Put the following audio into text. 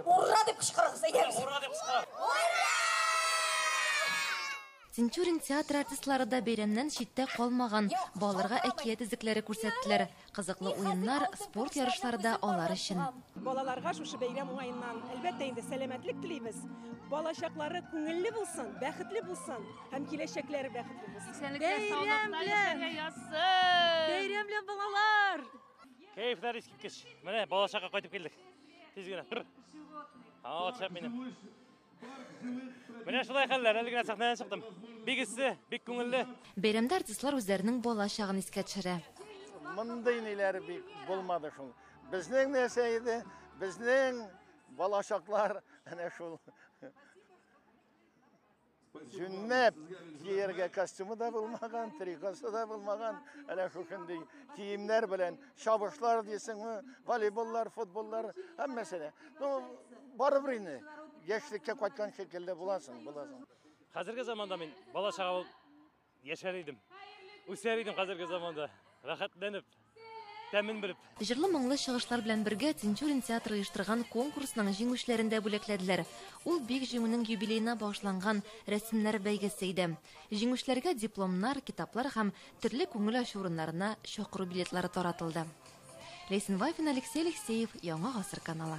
Ура дип кычкырыгыз, әйдәгез. Ура дип кычкырыгыз. Тинчурин театр артистлары да бәйрәмнән читтә калмаган, балаларга әкият эзлекләре күрсәттеләр. Кызыклы уеннар, спорт ярышлары да алар өчен. Балаларга шушы бәйрәм уңаеннан, әлбәттә инде, сәламәтлек телибез. Балачаклары күңелле булсын, бәхетле булсын һәм киләчәкләре бәхетле булсын. Исәнлектә, саулыкта яшәргә язсын! Бәйрәм белән, балалар! Кәефләр искиткеч. Менә балачакка кайтып килдек. Тиз генә. Тыр. Ала төшәп минем. Менә шулай хәлләр, әле генә сәхнәдән чыктым. Бик эссе, бик күңелле. Бәйрәмдә артистлар үзләренең бала чагын искә төшерә. Мондый ниләр бик булмады шул. Безнең нәрсә иде? Безнең балачаклар әнә шул. Җүнләп кияргә костюмы да булмаган, трикосы да булмаган, әле шушындый киемнәр белән чабышлар дисеңме, волейболлар, футболлар, һәммәсе дә. Ну, барыбер инде яшьлеккә кайткан шикелле буласың, буласың. Хәзерге заманда мин бала чага Яшәр идем, үсәр идем хәзерге заманда, рәхәтләнеп, тәмен белеп. Җырлы-моңлы чыгышлар белән бергә Тинчурин театры оештырган конкурсның җиңүчеләрен дә бүләкләделәр. Ул бик Җиңүнең юбилеена багышланган рәсемнәр бәйгесе иде. Җиңүчеләргә дипломнар, китаплар һәм төрле күңел ачу урыннарына чакыру билетлары таратылды. Ләйсән Вафина, Алексей Алексеев, Яңа гасыр каналы.